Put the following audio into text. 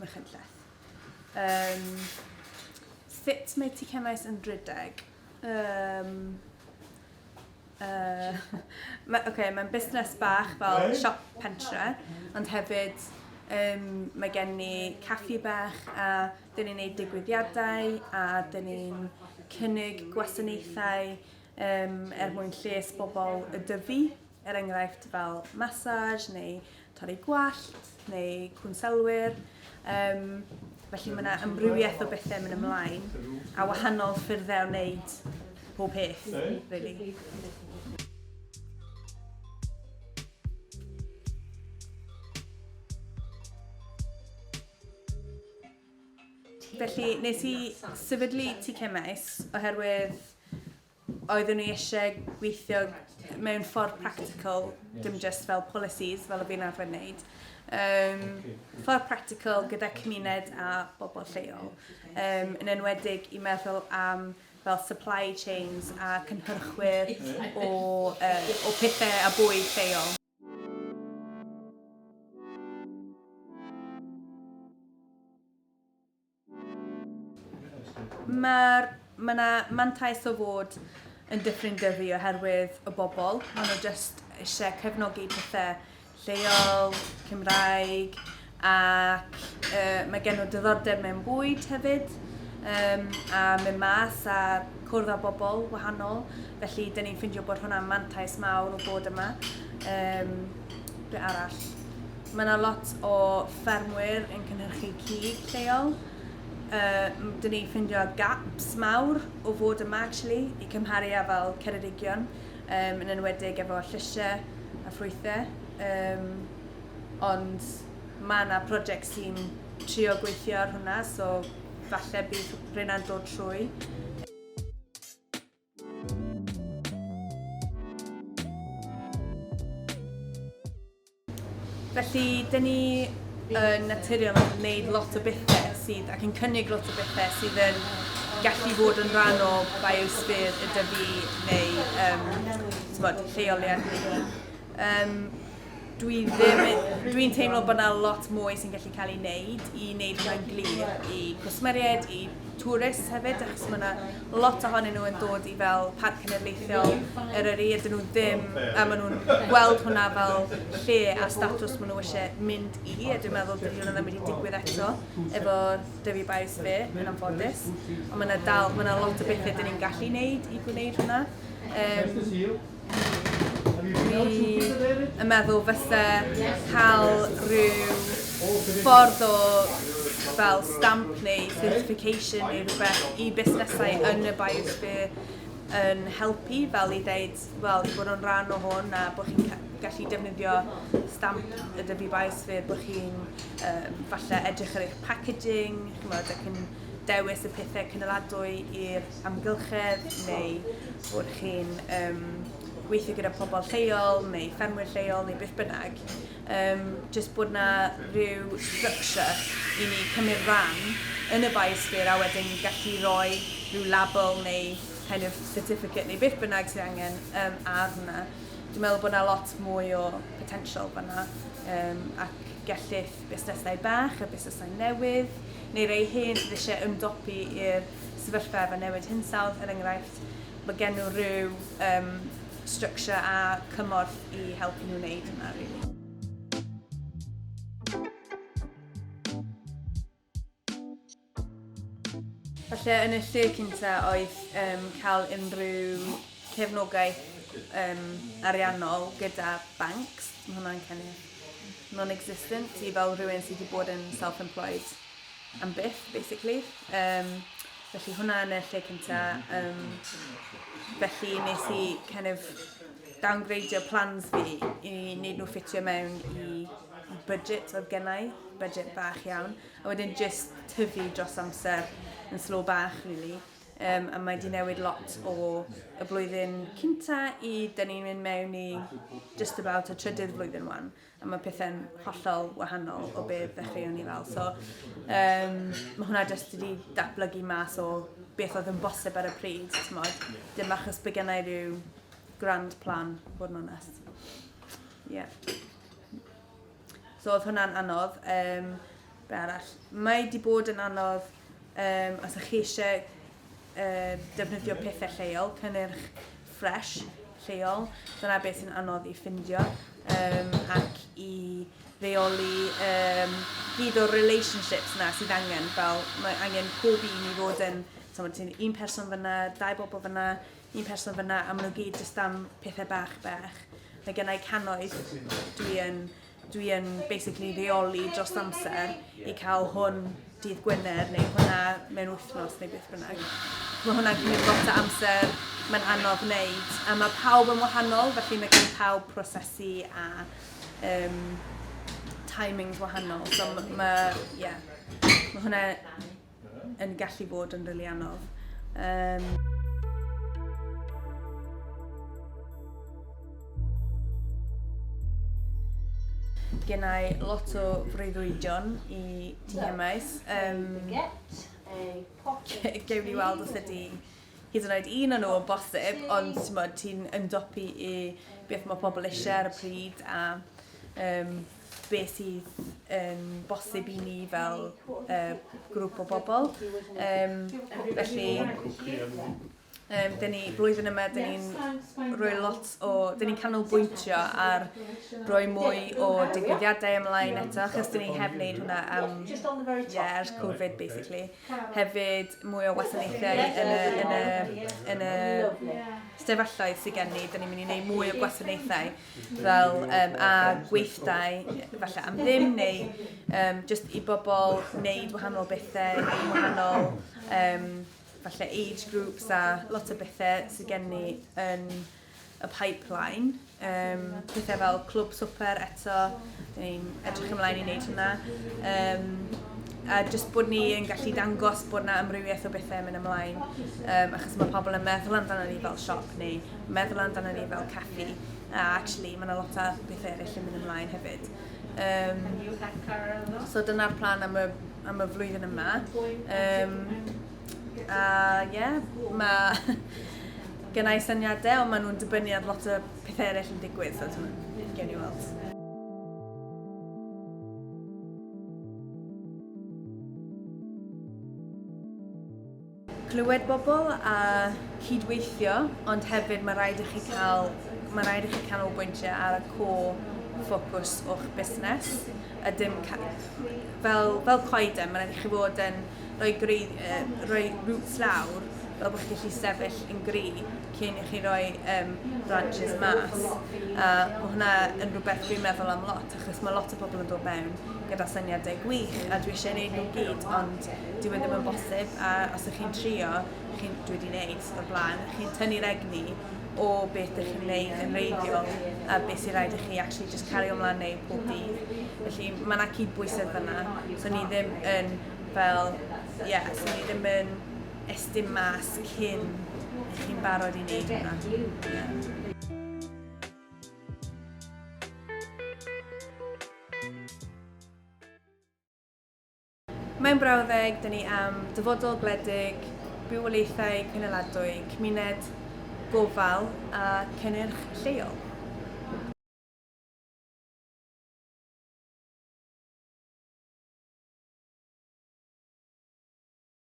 Machynlleth. Um, sut mae ti cemais yn rhedeg? Um, uh, ma, okay, mae'n busnes bach fel siop pentre, ond hefyd um, mae gen ni caffi bach a dyn ni'n gwneud digwyddiadau a dyn ni'n cynnig gwasanaethau um, er mwyn lles bobl y dyfu. er enghraifft fel massage neu torri gwallt neu cwnselwyr. Um, felly mae yna ymrywiaeth o bethau mynd ymlaen a wahanol ffyrddau o wneud pob peth, really. Felly, nes i sefydlu TK Maes oherwydd oeddwn ni eisiau gweithio mewn ffordd practical, dim just fel policies, fel y fi'n arfer wneud. Um, ffordd practical gyda cymuned a bobl lleol, um, yn enwedig i meddwl am fel supply chains a cynhyrchwyr o, uh, o pethau a bwyd lleol. Mae'r mae yna mantais o fod yn Dyffryn Dyfi oherwydd y bobl. Maen nhw jyst eisiau cefnogi pethau lleol, Cymraeg, ac uh, mae gen nhw diddordeb mewn bwyd hefyd, um, a mynd mas a cwrdd â bobl wahanol. Felly, dyn ni'n ffindio bod hwnna'n mantais mawr o bod yma. Um, be arall? Mae yna lot o ffermwyr yn cynhyrchu cig lleol. Yy, dyn ni ffindio gaps mawr o fod yma, actually, i cymharu â fel Ceredigion, um, yn enwedig efo llysiau a ffrwythau. Um, ond mae yna prosiect sy'n trio gweithio ar hwnna, so falle bydd rheina'n dod trwy. Felly, dyn ni yn naturiol yn gwneud lot o bethau sydd, ac yn cynnig lot o bethau sydd yn gallu bod yn rhan o biosphere y dyfu neu um, lleoliad Um, dwi ddim, dwi'n teimlo bod yna lot mwy sy'n gallu cael ei wneud i wneud rhan glir i gwsmeriaid, i tourists hefyd, achos mae yna lot ohonyn nhw yn dod i fel parc cenedlaethol yr yr ydyn nhw ddim, a maen nhw'n gweld hwnna fel lle a statws maen nhw eisiau mynd i, a dwi'n meddwl dydy hwnna ddim wedi digwydd eto efo Dyfi Bios Fe, yn anffodus, ond mae yna dal, mae yna lot o bethau dyn ni'n gallu wneud i gwneud hwnna. Um, Dwi yn meddwl fyse cael rhyw ffordd o fel stamp neu certification neu rhywbeth i busnesau yn y biosphere yn helpu fel i ddeud wel i fod yn rhan o hwn a bod chi'n ca- gallu defnyddio stamp y Dyfi Biosphere bod chi'n yym falle edrych ar eich packaging ch'mod ac yn dewis y pethau cynaladwy i'r amgylchedd neu bod chi'n um, gweithio gyda pobl lleol neu ffermwyr lleol neu beth bynnag. Um, just bod na rhyw structure i ni cymryd rhan yn y biosphere a wedyn gallu rhoi rhyw label neu kind of certificate neu beth bynnag sydd angen um, ar hwnna. Dwi'n meddwl bod yna lot mwy o potential fanna um, ac gellith busnesau bach a busnesau newydd, neu rei hen sydd eisiau ymdopi i'r sefyllfa efo newid hinsawdd, er enghraifft, mae gen nhw rhyw um, structure a cymorth i helpu nhw wneud hynna, really. Falle yn y lle cynta oedd um, cael unrhyw cefnogaeth um, ariannol gyda banks. Mae hwnna'n kind of non-existent i fel rhywun sydd wedi bod yn self-employed am byth, basically. Um, felly hwnna yn y lle cynta. Um, felly nes i kind of downgradeio plans fi i wneud nhw ffitio mewn i budget oedd gennau, budget bach iawn. A wedyn jyst tyfu dros amser yn slow bach rili. Um, a mae di newid lot o y blwyddyn cynta i dyn ni'n mynd mewn i just about y trydydd flwyddyn wan. A mae pethau'n hollol wahanol o beth ddechreuon ni fel. So, um, mae hwnna jyst wedi datblygu mas o beth oedd yn bosib ar y pryd, tmod. Dim achos bod gennau rhyw grand plan, bod yn onest. Yeah. So oedd hwnna'n anodd. Um, be arall? Mae wedi bod yn anodd um, os ydych chi eisiau uh, defnyddio pethau lleol, cynnyrch ffres lleol. Dyna beth sy'n anodd i ffindio um, ac i reoli um, gyd o'r relationships na sydd angen. Fel mae angen pob un i fod yn, ti'n un person fyna, dau bobl fyna, un person fyna a maen nhw gyd jyst am pethau bach bach. Mae gennau cannoedd dwi yn, dwi yn basically reoli dros amser i cael hwn dydd Gwener neu hwnna mewn wythnos neu beth bynnag. Mae hwnna'n cymryd lot o amser, mae'n anodd wneud. A mae pawb yn wahanol, felly mae gen pawb prosesu a um, timings wahanol. So mae, yeah, mae hwnna yn gallu bod yn rili anodd. Um... Gennau lot o freuddwydion i ti hemais. Um, Gewn ni weld os ydy hyd yn oed un o'n nhw o bosib, ond ti'n ymdopi i beth mae pobl eisiau ar y pryd a um, be sydd yn bosib i ni fel uh, grŵp o bobl. Um, felly, um, dyn ni, blwyddyn yma, dyn ni'n rhoi lot o, dyn ni'n canolbwyntio ar rhoi mwy o digwyddiadau ymlaen eto, achos dyn ni heb wneud hwnna am, yeah, ers Covid, basically. Hefyd, mwy o wasanaethau yn y, yn y, yn y, yn y sefyllfaoedd sydd gen ni, dyn ni'n mynd i wneud mwy o gwasanaethau fel um, a gweithdai, falle am ddim, neu um, just i bobl wneud wahanol bethau, wahanol um, falle age groups a lot o bethau sydd gen ni yn y pipeline. Um, pethau fel clwb swper eto, ni'n edrych ymlaen i wneud hwnna. Um, a jyst bod ni yn gallu dangos bod na amrywiaeth o bethau yn mynd ymlaen. Um, achos mae pobl yn meddwl amdano ni fel siop neu meddwl amdano ni fel caffi a actually mae yna lot o bethau eraill yn mynd ymlaen hefyd. Um, so dyna'r plan am y, am y flwyddyn yma. Um, a ie, yeah, mae gennau syniadau ond maen nhw'n dibynnu ar lot o pethau eraill yn digwydd, so dwi'n gen i weld. clywed bobl a cydweithio, ond hefyd mae rhaid i chi cael, mae rhaid i chi canolbwyntio ar y core ffocws o'ch busnes, a dim fel, fel coeden, mae rhaid i chi fod yn rhoi, greu, uh, rhoi roots lawr, fel bod chi'n gallu sefyll yn gry, cyn i chi roi um, branches mas. A mae hwnna yn rhywbeth dwi'n meddwl am lot, achos mae lot o bobl yn dod mewn gyda syniadau gwych, a dwi eisiau gwneud nhw gyd, ond dwi wedi bod yn bosib, a os ydych chi'n trio, chi, dwi wedi gwneud o'r blaen, chi'n tynnu'r egni o beth ydych chi'n gwneud yn reiddiol, a beth sy'n rhaid i chi actually just cario ymlaen neu pob dydd. Felly mae yna cyd-bwysedd fyna, so ni ddim yn fel, ie, yeah, so ni ddim yn estyn mas cyn i chi'n barod i wneud hwnna. Mae'n brawddeg, dyn ni am dyfodol gwledig, bywoliaethau cynaladwy, cymuned gofal a cynnyrch lleol.